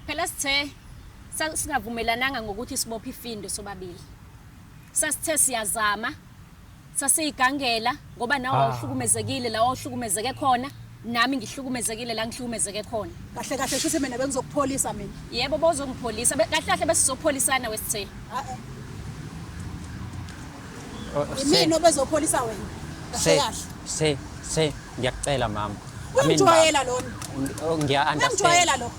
Phela sithe sasingavumelananga ngokuthi sibophe ifindo sobabili. Sasithe siyazama sasiyigangela ngoba nawe Ah. uhlukumezekile la uhlukumezeke khona nami ngihlukumezekile la ngihlukumezeke khona. kahle kahle shuthi mina bengizokupholisa mina Yebo bozongipholisa Be- kahle kahle besizopholisana wesithe. Ah, eh. Yimina obezopholisa wena. Kahle kahle. Se se ngiyakucela mama. Uyamjwayela lona. Oh, ngiya understand. Uyamjwayela lo.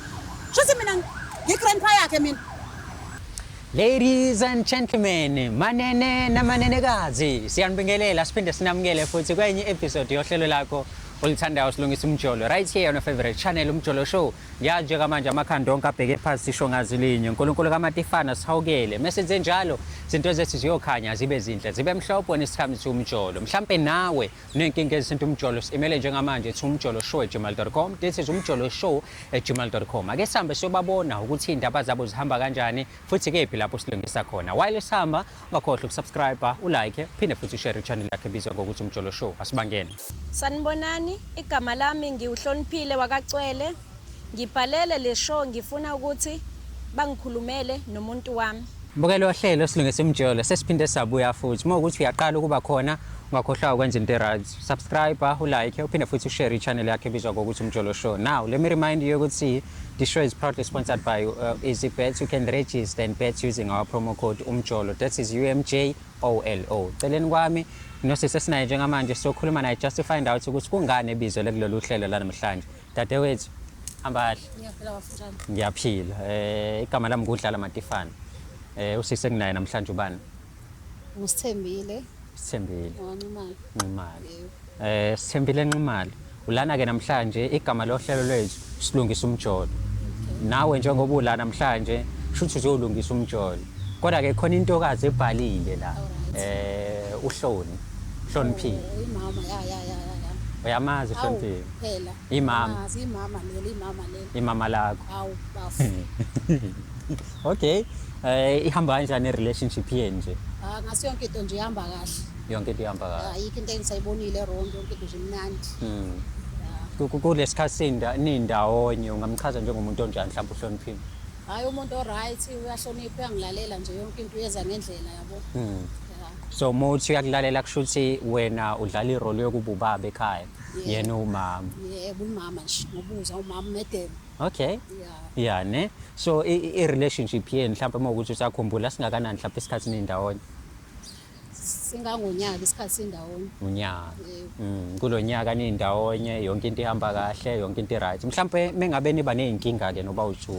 Shothi mina ngigrandpa yakhe mina. Ladies and gentlemen, manene namanenekazi, siyanibingelela siphinde sinamukele futhi kwenye episode yohlelo lakho olithandayo silungisa umjolo right here on your favorite channel umjolo show Ya njengamanje amakhanda onke abheke phansi sisho ngazi linye uNkulunkulu kaMatifana sihawukele mesenze njalo izinto zethu ziyokhanya zibe zinhle zibe mhlophe wena isikhathi siwumjolo mhlampe nawe unenkinga ezisinto umjolo simele njengamanje ethi umjolo show at gmail.com this is umjolo show at gmail.com ake sihambe siyobabona ukuthi indaba zabo zihamba kanjani futhi kephi lapho silungisa khona while sihamba Ungakhohlwa ukusubscribe, ulike, phinde futhi ushare ichannel yakhe ebizwa ngokuthi Umjolo Show. Asibangene. Sanibonani, igama lami ngiwuhloniphile wakacwele. Ngibhalele le show ngifuna ukuthi bangikhulumele nomuntu wami. Mbukelo wohlelo silungisa umjolo sesiphinde sabuya futhi uma ukuthi uyaqala ukuba khona ungakhohlwa ukwenza into right subscribe ulike uphinde futhi ushare ichannel yakhe ebizwa ngokuthi umjolo show now let me remind you ukuthi The show is proudly sponsored by uh, Easy Bets. You can register and bet using our promo code umjolo. That is UMJOLO. Celeni kwami nosisi esinaye njengamanje sokhuluma naye just to find out ukuthi kungani ebizwe lekulolu hlelo lanamhlanje. Dadewethu hamba kahle. Ngiyaphila. Eh igama lami ngudlala Matifana. Eh usisi enginaye namhlanje ubani? Ngusithembile. Sithembile. Nximali. Nximali. Eh Sithembile Nximali. Ulana ke namhlanje igama lohlelo lwethu silungisa umjolo. Nawe njengoba ula namhlanje shuthi uzolungisa umjolo. Kodwa ke khona intokazi ebhalile la. Eh uhloni. Hloniphile. Oh, imama ya ya ya ya. Uyamazi Hloniphile. Phela. Imama. Imama leli imama leli. Imama lakho. Hawu bafo. Okay. Eh ihamba kanjani relationship yenu nje? Ah ngaso yonke into nje ihamba kahle. Yonke into ihamba kahle. Ayikho into engisayibonile wrong yonke into nje imnandi. Mm. Kulesikhathi sinda nindawonye ungamchaza njengomuntu onjani mhlawumbe uhloniphile? Hayi umuntu o right uyahlonipha uyangilalela nje yonke into uyeza ngendlela yabo. Mm. So muthi uyakulalela kusho ukuthi wena udlala irole yokuba ubaba ekhaya yena umama. Yebo umama nje ngobuza umama umedebe. Okay. Yeah ne. So i, i relationship yenu mhlawumbe uma ukuthi usakhumbula singakanani mhlawumbe isikhathi nindawonye singangonyaka isikhathi sindawonye unyaka mm, kulo nyaka nindawonye yonke into ihamba kahle yonke into right mhlawumbe mengabe niba nezinkinga ke noba uju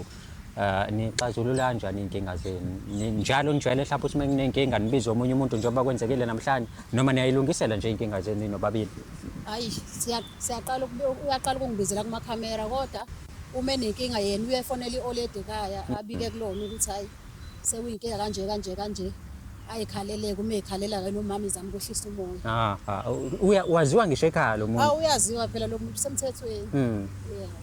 uh, nixazulula kanjani izinkinga zenu Ni- njalo nijwayele mhlawumbe ukuthi menginenkinga nibize omunye umuntu njengoba kwenzekile namhlanje noma niyayilungisela nje izinkinga zenu nobabili hayi siya- siyaqala uyaqala ukungibizela kumakhamera kodwa uma enenkinga yena uyefonela i-oledi ekhaya abike kulona ukuthi hhayi sekuyinkinga kanje kanje kanje ayikhaleleke uma ekhalela wena umama izama ukwehlisa umoya ah, ah, uya waziwa ngisho ekhaya lo muntu ah uyaziwa phela lo muntu semthethweni hmm.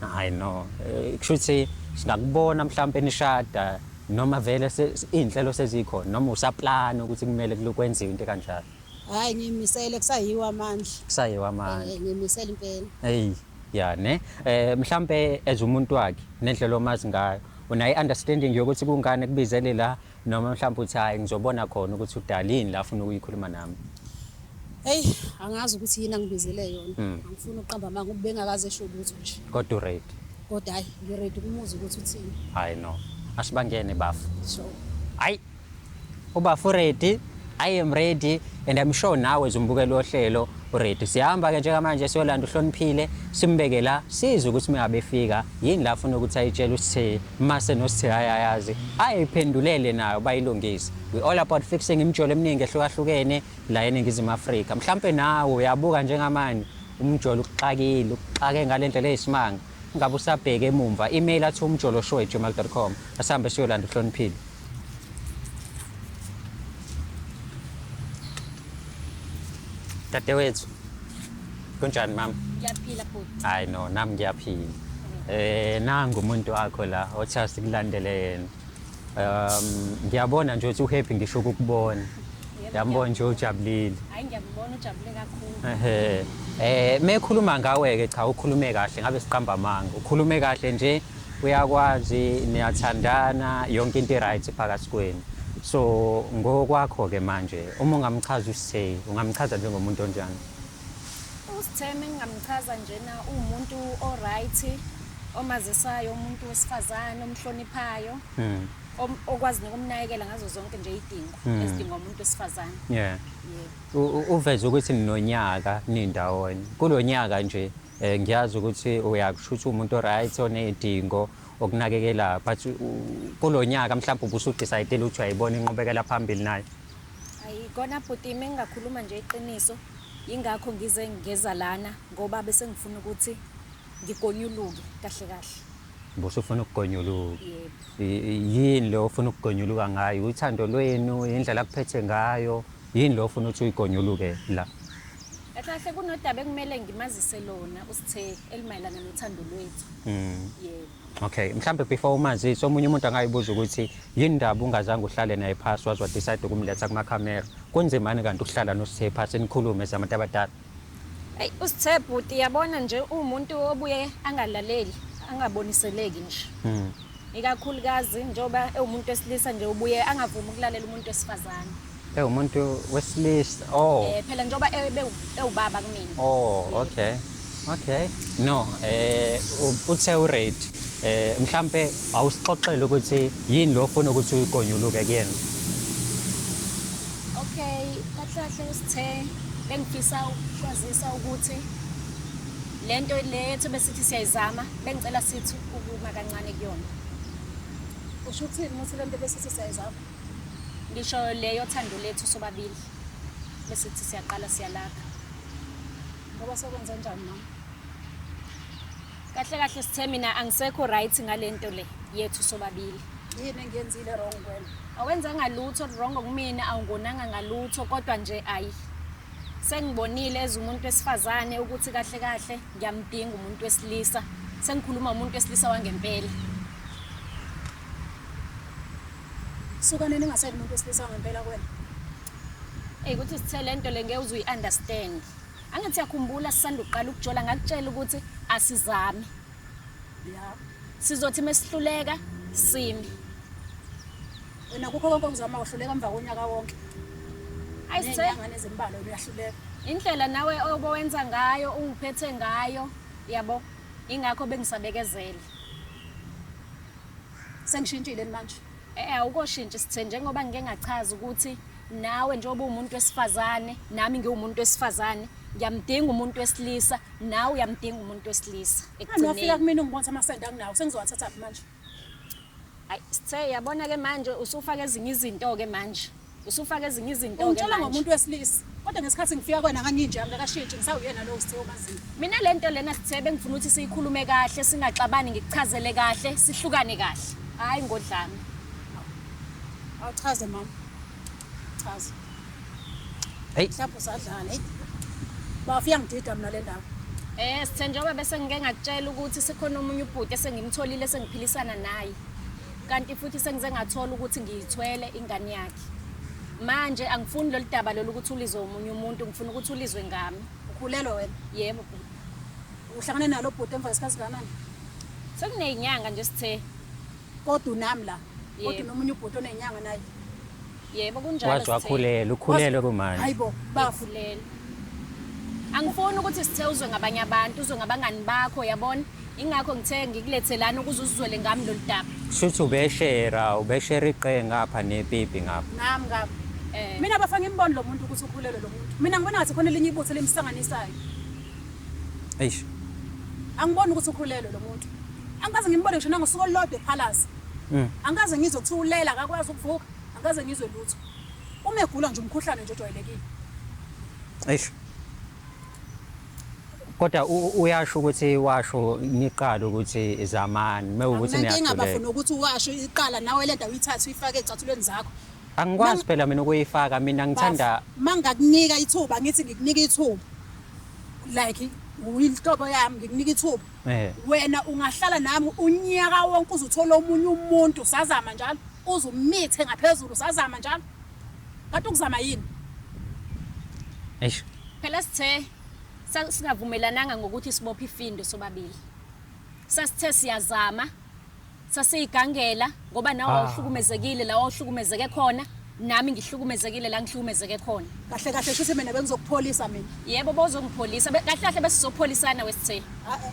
hayi no eh, kusho ukuthi singakubona mhlawumbe nishada noma vele inhlelo sezikhona noma usaplana ukuthi kumele kulokwenziwe into kanjalo Hayi ngimisele kusayiwa amandla. Kusayiwa amandla. Eh ngimisele impela. Hey ya ne eh mhlambe as umuntu wakhe nendlela omazi ngayo unayi understanding yokuthi kungane kubizele la noma mhlawumbe uthi hayi ngizobona khona ukuthi udalini la ufuna ukuyikhuluma nami Hey angazi ukuthi yini angibizele yona hmm. angifuni uqamba manga ubengakaze esho ukuthi nje kodwa red kodwa hayi ngiready kumuzi ukuthi uthini hayi no asibangene bafu sure hayi Ubafo ready, I am ready and I'm sure nawe zumbukela ohlelo ready. Siyahamba ke njengamanje siyolanda uhloniphile simbeke la sizwe ukuthi meyabefika yini la funa ukuthi ayitshele uSithe mase noSithe hayayazi ayiphendulele nayo bayilungise. We all about fixing imjolo eminingi ehlukahlukene la eningizimu Afrika. Mhlambe nawe uyabuka njengamanje umjolo ukuxakile, ukuxake ngalendlela eyisimanga. Ngabe usabheke emumva email athi umjoloshow@gmail.com. Asihambe siyolanda uhloniphile. Dadewethu. Kunjani mama? Ngiyaphila bhuti. Hayi no, nami ngiyaphila. Eh nangu umuntu wakho la othi asikulandele yena. um ngiyabona nje ukuthi uhappy ngisho ukukubona yambona nje ujabulile hayi ngiyakubona ujabule kakhulu ehe eh mekhuluma ngawe ke cha ukhulume kahle ngabe siqamba amanga ukhulume kahle nje uyakwazi niyathandana yonke into right phakathi kwenu so ngokwakho ke manje uma ungamchaza usay ungamchaza njengomuntu onjani uSitheme engingamchaza njena uwumuntu o-right omazisayo umuntu wesifazane omhloniphayo mm. okwazi nokumnakekela ngazo zonke nje idingo mm. ezidinga umuntu wesifazane yeah. yeah. uveze ukuthi ninonyaka nindawonye kulo nyaka nje um ngiyazi ukuthi uyakushutha umuntu o-right oney'dingo okunakekela but kulo nyaka mhlawumbe ubusudisayidele ukuthi uyayibona inqubekela phambili nayo Ayi kona bhuti ime ngingakhuluma nje iqiniso yingakho ngize ngeza lana ngoba bese ngifuna ukuthi ngigonyuluke kahle kahle Mbuso ufuna ukugonyuluka. Yini lo ufuna ukugonyuluka ngayo? Uthando lwenu, indlela kuphethe ngayo. Yini lo ufuna ukuthi uyigonyuluke la? Kahle kunodaba ekumele ngimazise lona uSithe elimayelana nothando lwethu. Mm. Yebo. Okay, mhlambe before umazisi omunye umuntu angayibuza ukuthi yini ndaba ungazange uhlale naye phasi wazwa decide ukumletha kuma camera. Kunzimani kanti ukuhlala nosithe phasi nikhulume zabantu abadala. Hey, usithe bhuti yabona nje umuntu obuye angalaleli, angaboniseleki nje. Mhm. Ikakhulukazi njoba ewumuntu wesilisa nje ubuye angavumi ukulalela umuntu wesifazane. ewumuntu wesilisa oh Eh phela njengoba ebe ewubaba kumina. oh okay okay no eh u- uthe ureid eh mhlambe awusixoxele ukuthi yini lo ofuna ukuthi uyikonyuluke kuyena Okay, kahle kahle usithe bengifisa ukwazisa ukuthi lento le yethu besithi siyayizama bengicela sithi ukuma kancane kuyona. Usho ukuthi muthi lento besithi siyayizama. ngisho leyo thando lethu sobabili bese sithi siyaqala siyalakha ngoba sokwenza njani mama kahle kahle sithe mina angisekho right ngalento le yethu sobabili yini engiyenzile wrong wena awenzanga lutho wrong kumina awungonanga ngalutho kodwa nje ayi sengibonile as umuntu wesifazane ukuthi kahle kahle ngiyamdinga umuntu wesilisa sengikhuluma umuntu wesilisa wangempela Sukaneni ngaseli umuntu wesilisa ngempela kwena. Ey kuthi sithe lento le ngeke uzuyi understand. Angithi yakhumbula sisanda uqala ukujola ngakutshela ukuthi asizami. Yeah. Sizothi mesihluleka simi. Wena kukho konke okuzama uhluleka emva konyaka wonke. Ayi sithe Nenyanga nezimbalo uyahluleka. indlela nawe obowenza ngayo ungiphethe ngayo yabo ingakho bengisabekezele. Sengishintshile manje. Eh awukoshintshi sithe njengoba ngike ngachaza ukuthi nawe njengoba umuntu wesifazane nami ngiwumuntu wesifazane ngiyamdinga umuntu wesilisa nawe uyamdinga umuntu wesilisa ekugcineni ngiyafika kumina ungibona amasende anginawo sengizowathatha manje ayi sithe yabona ke manje usufaka ezinye izinto ke manje Usufaka ezinye izinto ke Ungitshela manje. ngomuntu wesilisa. Kodwa ngesikhathi ngifika kwena nganginje angakashintshi ngisawuyena lo sithe omaziyo. Mina le nto lena sithe bengifuna ukuthi siyikhulume kahle singaxabani ngikuchazele kahle sihlukane kahle. Hayi ngodlame. Awuchaze mama. Chaza. Hey. Mhlawumbe usadlala. Hey. Bafika ngidida mina le ndawo. Eh sithe njengoba bese ngike ngakutshela ukuthi sikhona omunye ubhuti esengimtholile sengiphilisana naye. kanti futhi sengize ngathola ukuthi ngiyithwele ingane yakhe manje angifuni lolu daba lolu ukuthi ulizwe omunye umuntu ngifuna ukuthi ulizwe ngami ukhulelwe wena yebo uhlangane nalo bhuti emva kwesikhathi kanani sekuney'nyanga nje sithe kodwa unami la kodwa nomunye ubhuti onenyanga naye Yebo kunjalo. Waze wakhulelwa, ukhulelwe kumanje. Hayibo, bafu lelo. Angifuni ukuthi sithe uzwe ngabanye abantu, uzwe ngabangani bakho, yabona? Ingakho ngithe ngikulethelana ukuze uzizwele ngami lolu daba. Shuthi ubeshera, ubeshera iqe ngapha nepipi ngapha. Nami ngapha. Eh. Mina bafana ngimboni lo muntu ukuthi ukhulelwe lo muntu. Mina ngibona ngathi khona elinye ibutho elimsanganisayo. Eish. Angiboni ukuthi ukhulelwe lo muntu. Angikaze ngimbone ngisho nangosuku olulodwa ephalaza. Mm. Angikaze ngizwe kuthiwa ulela akakwazi ukuvuka. Angikaze ngizwe lutho. Uma egula nje umkhuhlane nje ojwayelekile. Eish. Kodwa uyasho ukuthi washo niqala ukuthi zamani mewukuthi niyahluleka. Angike ngabafuna ukuthi washo iqala nawe lento uyithatha uyifake ecathulweni zakho. Angikwazi phela mina ukuyifaka mina ngithanda mangakunika ithuba ngithi ngikunika ithuba like uyinhlobo yami ngikunika ithuba Eh. wena ungahlala nami unyaka wonke uze uthole omunye umuntu usazama njalo uze umithe ngaphezulu usazama njalo kanti ukuzama yini eish phela sithe sa- singavumelananga ngokuthi sibophe ifindo sobabili sasithe siyazama sasiyigangela ngoba nawe Ah. wawuhlukumezekile la wawuhlukumezeke khona nami ngihlukumezekile la ngihlukumezeke khona kahle kahle shuthi mina bengizokupholisa mina yebo bozongipholisa Be- kahle kahle besizopholisana wesithela Ae,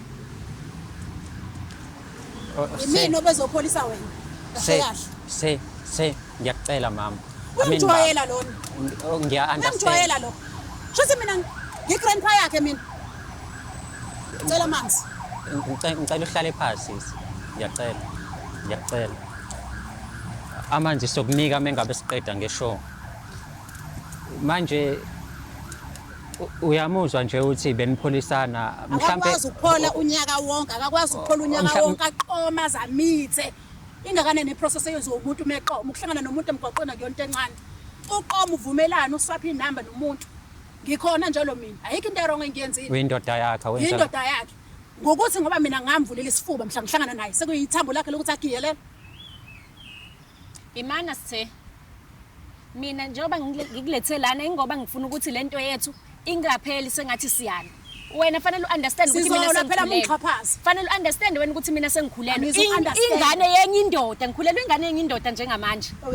Oh, se- imina obezopholisa wena kahle se- kahle se se ngiyakucela mama I mean, uyamjwayela lona baba, ngiya-understand. uyamjwayela lo shuthi mina ngi-grandpa yakhe mina Ngicela amanzi. Ngicela ngicela uhlale phansi sisi. Ngiyacela. Ngiyacela. Amanzi sokunika mengabe siqeda ngeshow. Manje u- uyamuzwa nje uthi benipholisana akakwazi ukuphola unyaka wonke akakwazi ukuphola unyaka Mhlampe- wonke aqoma zamithe ingakanani iprocess eyenziwa umuntu uma eqoma ukuhlangana nomuntu emgwaqweni akuyona into encane uqoma uvumelane uswaphe inamba nomuntu Ngikhona njalo mina. Ayikho into erong engiyenzile. Uyindoda yakhe wenza. Uyindoda yakhe. Ngokuthi ngoba mina ngamvulela isifuba mhla ngihlangana naye sekuyithambo lakhe lokuthi agiyelela. Imana sithe mina njengoba ngikulethe lana ingoba ngifuna ukuthi lento yethu ingapheli sengathi siyana wena fanele uunderstand ukuthi mina sengikhulelwe fanele uunderstand wena ukuthi mina sengikhulelwe ingane yenye indoda ngikhulelwe ingane yenye indoda njengamanje oh,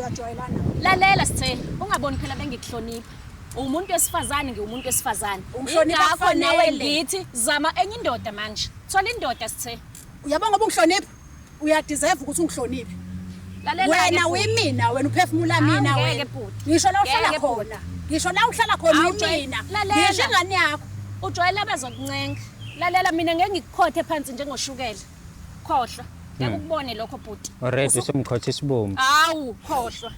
lalela sithe ungaboni phela bengikuhlonipha umuntu wesifazane ngiwumuntu wesifazane ingakho nawe ngithi zama enye indoda manje thola indoda sithe uyabo ngoba ungihloniphi uyadeserve ukuthi ungihloniphe wena wimina wena uphefumula mina wena ngisho la uhlala khona ngisho la uhlala khona wimina ngisho ingane yakho ujwayele abazokuncenga lalela mina ngeke ngikukhothe phansi njengoshukela khohlwa ngeke Hmm. ukubone lokho bhuti already usumkhotha isibumbu hawu khohlwa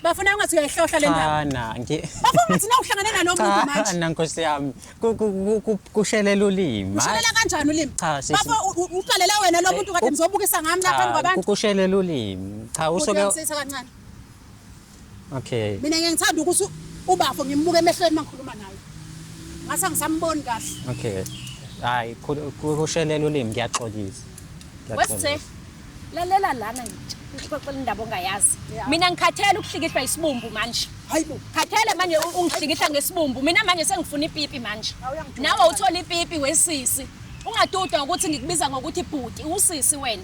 bafuna ungathi uyayihlohla le ndaba cha na ngi bafuna ungathi na uhlangane nalo muntu cha manje na nkosi yami Ku- ku- ku- ku- kushelela ulimi ushalela kanjani ulimi Cha, sisi. bafo u- u- uqalela wena lo muntu kade u- ngizobukisa ngami lapha Cha, phambi kwabantu kushelela ulimi cha usuke uyamsisa kancane Okay. Mina ngeke ngithanda ukuthi ubafo ngimbuke emehlweni mangikhuluma naye. Ngasa ngisamboni kahle. Okay. Hayi kushelela ulimi ngiyaxolisa. Wesithe lalela lana nje. Ngixoxela indaba ongayazi. Mina ngikhathele ukuhlikihlwa isibumbu manje. Hayibo. Khathele manje ungihlikihla ngesibumbu. Mina manje sengifuna ipipi manje. Nawe uthola ipipi wesisi. Ungaduda ukuthi ngikubiza ngokuthi bhuti, usisi wena.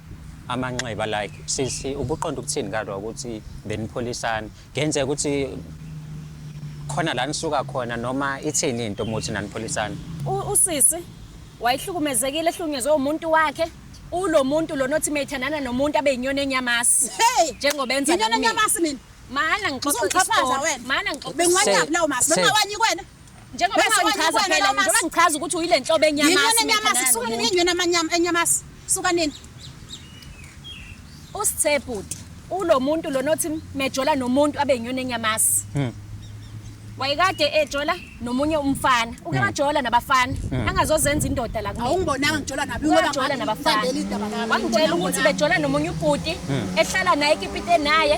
amanxeba like sisi ubuqonda ukuthini kadwa ukuthi benipholisana ngenzeka ukuthi khona la nisuka khona noma ithini into muthi nanipholisana usisi wayehlukumezekile ehlukunyezwe umuntu wakhe ulo muntu lona othi mayithandana nomuntu abe yinyoni enyamasi hey njengoba enza inyoni enyamasi mina mana ngixoxa mana ngixoxa bengiwanyaphi lawo masi bengawanyi kwena Njengoba Bese ngakwenza ngichaza kuwena phela lo njengoba masi. ngichaza ukuthi uyile nhlobo enyamasi. Yinyoni mina enyamasi, ngane suka nini yomuntu. inyoni amanyama- enyamasi? Suka nini? Usithe bhuti ulo muntu lona othi mejola nomuntu abe yinyoni enyamasi. Mm. Wayekade ejola nomunye umfana. Uke wajola nabafana. Angazozenza indoda la kulo. Awungibonanga ngijola nabi ngoba Wajola manje nabafana. ngibambele indaba nami. Wangitshela ukuthi bejola nomunye ubhuti ehlala naye ekipite naye.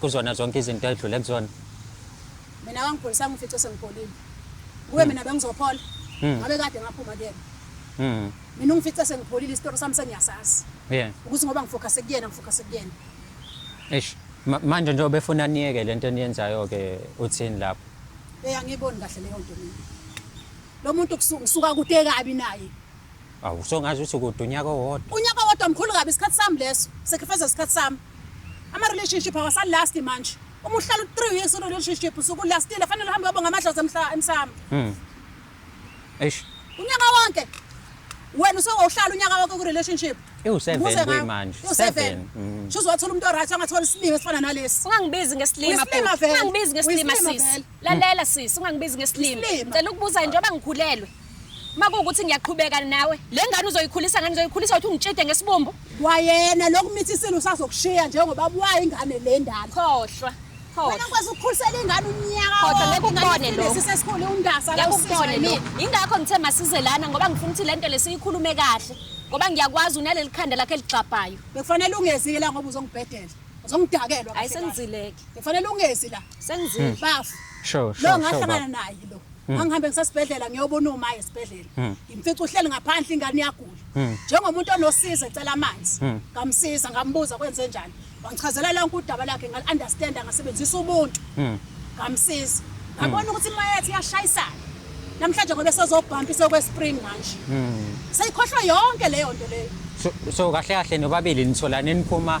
kuzona zonke izinto edlule kuzona mina wangipholisa ngifice sengipholile kuwe mina bengizophola Mm. ngabe kade ngaphuma kuyena Mm. mina ungifice sengipholile isitori sami sengiyasazi Yeah. ukuthi ngoba ngifocuse kuyena ngifocuse kuyena Eish. Ma- Manje njengoba efuna niyeke lento eniyenzayo ke uthini lapho? eyi angiyiboni kahle leyo nto mina lo muntu kusu- ngisuka kude kabi naye Awu so ngazi ukuthi kude unyaka owodwa. Unyaka owodwa mkhulu kabi isikhathi sami leso. Sacrifice isikhathi sami. Ama relationship awasa last manje. Uma uhlala 3 years in relationship usuku lastile fanele uhambe uyobonga amadlozi emhla emsamo. Mhm. Eish. Unyaka wonke. Wena usewuhlala unyaka wonke ku relationship. Iwu7 kuyi manje. Iwu7. Mm. Shuzo wathola umuntu oright angathola isilima esifana nalesi. Ungangibizi ngesilima bhuti. Ungangibizi ngesilima sisi. Lalela sisi ungangibizi ngesilima. Cela ukubuza njengoba ngikhulelwe. Uma kuwukuthi ngiyaqhubeka nawe, le ngane uzoyikhulisa ngani uzoyikhulisa uthi ungitshide ngesibumbu? Wayena lokumithisile usazokushiya njengoba buya ingane le ndala. Khohlwa. Wena kwazi ukukhulisela ingane unyaka Khohlwa ngeke ukubone lo. Sisesikhulu undasa la ukubone lo. Ingakho ngithe masize lana ngoba ngifuna ukuthi lento lesiyikhulume kahle. Ngoba ngiyakwazi unaleli khanda lakhe ligxabhayo. Bekufanele ungezile la ngoba uzongibhedela. Uzongidakelwa. Hayi sengizileke. Bekufanele ungezi la. Sengizile. Bafu. Sure, sure. Lo ngahlangana naye lo. Hmm. angihambe ngisesibhedlela ngiyobona uma esibhedlela hmm. ngimfica uhleli ngaphandle ingane iyagula hmm. njengomuntu onosiza ecela amanzi ngamsiza ngambuza kwenze njani wangichazela lonke udaba lakhe ngal-understanda ngasebenzisa ubuntu ngamsiza ngabona ukuthi imoya yethu iyashayisana namhlanje ngobe sezobhampa isekwespring manje seyikhohlwa yonke leyo nto leyo so kahle kahle nobabili nitholane niphuma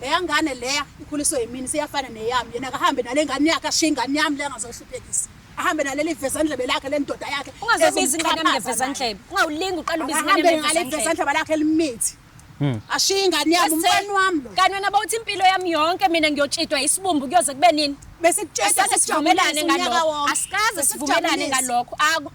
leya ngane leya ikhuliswe yimini seyafana neyami yena akahambe nale ngane yakhe ashiye ingane yami leya ngazohluphekisa ahambe naleli vezandlebe lakhe le ndoda yakhe ungazobiza ingane yami ngevezandlebe ungawulingi uqala ubiza ingane ahambe ngale vezandlebe lakhe elimithi hmm. ashiye ingane yami umfana wami lo kanti wena bawuthi impilo yami yonke mina ngiyotshidwa isibumbu kuyoze kube nini besikutshetha sesivumelane ngalokho asikaze sivumelane ngalokho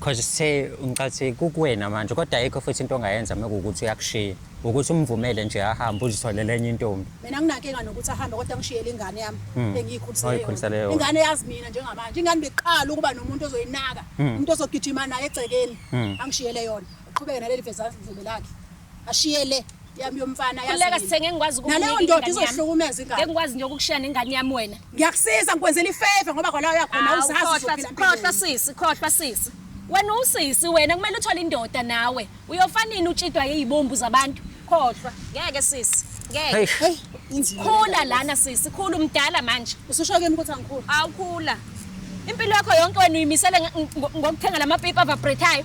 Cause say ngicathi kukuwena manje kodwa ayikho futhi into ongayenza mekuwukuthi uyakushiya. Ukuthi umvumele nje ahambe uzitholele enye intombi. Mina nginankinga nokuthi ahambe kodwa ngishiyele ingane yami hmm. engiyikhulisele yona. yona. Ingane yazi mina njengamanje. Ingane beqala ukuba nomuntu ozoyinaka, hmm. umuntu ozogijima naye egcekeni. Hmm. Angishiyele yona. Uqhubeke naleli vezazindlebe lakhe. ashiye le yami yomfana yazikhuleka sithenge ngikwazi naleyo ndoda izohlukumeza ingane ngikwazi nje ukukushiya nengane yami wena ngiyakusiza ngikwenzela ifavor ngoba khona uyakhona uzazi khohlwa sisi khohlwa sisi wena usisi wena kumele uthole indoda nawe uyofanini utshidwa yeyibombu zabantu khohlwa ngeke sisi ngeke hey khula lana sisi khula umdala manje ususho kimi ukuthi angikhula awukhula impilo yakho yonke wena uyimisele ngokuthenga lamapipa avibratayo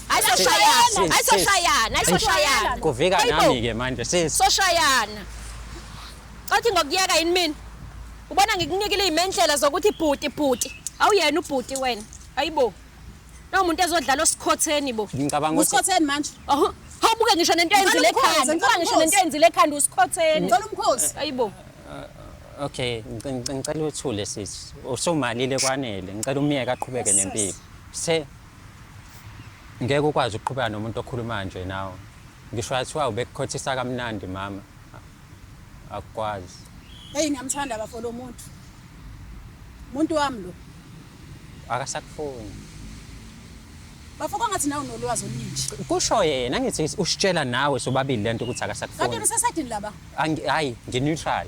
Ayisoshayana, ayisoshayana, ayisoshayana. Kuvika nami ke manje sis. Soshayana. Cathi ngokuyeka yini mina? Ubona ngikunikile izimendlela zokuthi bhuti bhuti. Awuyena ubhuti wena. Ayibo. Nawu umuntu ezodlala osikhotheni bo. Ngicabanga ukuthi Usikhotheni manje. Oho. Hawubuke ngisho nento eyenzile ekhanda. Ngicela ngisho nento eyenzile ekhanda usikhotheni. Ngicela umkhosi. Ayibo. Uh, okay, ngicela uthule sisi. Usumalile kwanele. Ngicela umyeke aqhubeke nempilo. Se Ngeke ukwazi ukuqhubeka nomuntu okhuluma nje nawe. Ngisho athiwa ubekukhothisa kamnandi mama. Akukwazi. Hey ngiyamthanda bafo lo muntu. Muntu wami lo. Akasakufuni. Bafo kwangathi nawe unolwazi oluningi. Kusho yena ngithi usitshela nawe sobabili lento ukuthi akasakufuni. Kanti usesedini laba? Hayi, ngineutral.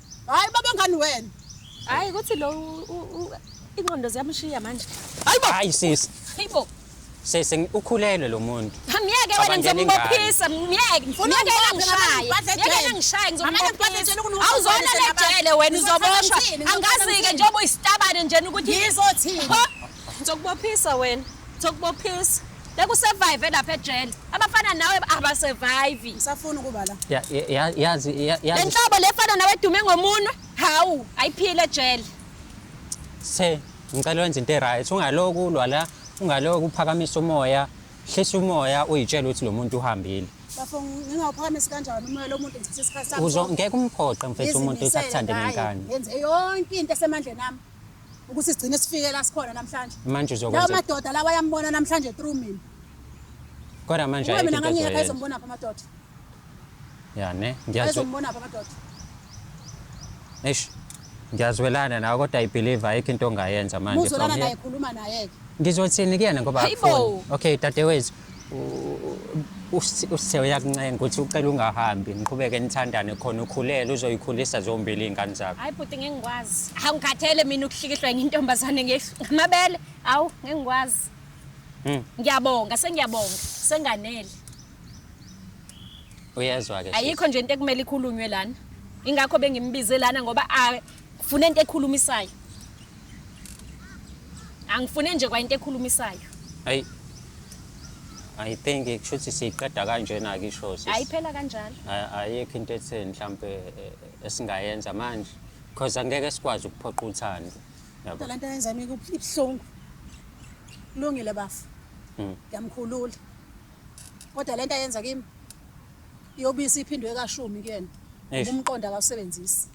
Hayi baba ngani wena. Hayi kuthi lo inqondo ziyamshiya manje. Hayibo. Hayi sisi. Hayibo. Sisi ukhulelwe lo muntu. Myeke wena ngizombophisa, myeke. Ngifuna ngishaya. Myeke ngishaya ngizombophisa. Awuzona lejele wena uzobonga. Angazi ke njengoba uyisitabane nje ukuthi ngizothini. Ngizokubophisa wena. Ngizokubophisa. bekusurvive lapha ejele abafana nawe abasurvive ngisafuna ukuba la Ya- ya- ya- yazi ya- le yazi nhlobo lefana nawe edume ngomunwe hawu ayiphile ejele se ngicela wenze into eright ungaloku ulwa la ungaloku uphakamisa umoya hlisa umoya uyitshela ukuthi lo muntu uhambile bafo ngingawuphakamisi kanjani umoya lo muntu ngithatha isikhathi sami Uzo- sonke. ngeke umphoqe mfethu umuntu ukuthi Ngizimisele akuthande ngaye. ngenkani ngenze yonke into esemandleni ami ukuthi sigcine sifike la sikhona namhlanje manje lawo uzokwenza madoda lawa ayambona namhlanje through mina kodwa manje ube mina ayikho into ngangiyeka ozoyenza. ezombona pha amadoda ya ne ngiyazwe azombona pha amadoda eish ngiyazwelana nawe kodwa i believe ayikho into ongayenza manje muzolana from naye here. khuluma naye-ke ngizothini kuyena ngoba Hayibo. akufuni. okay dadewethu usithe uyakuncenga ukuthi ucela ungahambi niqhubeke nithandane khona ukhulele uzoyikhulisa zombili iy'ngane zakho hayi bhuti ngeke ngikwazi hawu ngikhathele mina ukuhlikihlwa enye intombazane ngamabele hawu ngeke ngikwazi hmm. ngiyabonga sengiyabonga senganele uyezwa-ke ayikho nje into ekumele ikhulunywe lana ingakho bengimbize lana ngoba funa into ekhulumisayo Angifune nje kwayinto ekhulumisayo. Ay. I think kushuthi siqeda kanjena ke isho sis. Ayiphela kanjalo. Ayikho into etheni mhlambe eh, esingayenza manje because angeke sikwazi ukuphoqa uthando. Yabo. Lento yenza mina kubhlungu. Lungile bafu. Mm. Ngiyamkhulula. Kodwa lento yenza kimi yobisi iphindwe kashumi kuyena. Umqondo akawusebenzisi.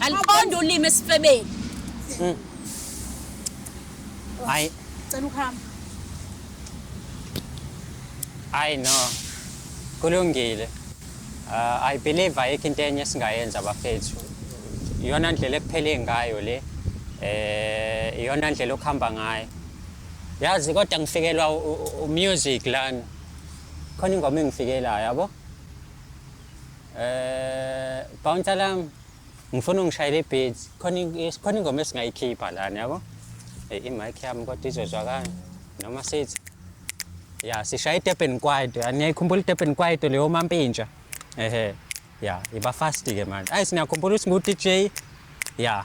Aliqonda ulimi esifebeni. Mm. Hayi. Cela ukuhamba. Hayi no. Kulungile. Uh, I believe ayikho into enye esingayenza bafethu. Iyona ndlela ekuphele ngayo le. Eh iyona ndlela okuhamba ngayo. Yazi kodwa ngifikelwa umusic lana. Khona ingoma engifikelayo yabo. Eh bouncer lam ngifuna ungishayele ibeat khona khona ingoma esingayikhipha lana yabo. Eh imic yami kodwa izozwakala noma sithi ya sishaya iDurban Kwaito aniyayikhumbula iDurban Kwaito leyo mampintsha ehe ya iba fast ke manje ayi siniyakhumbula ukuthi ngu DJ ya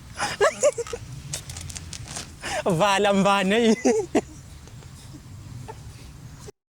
Vala mbane.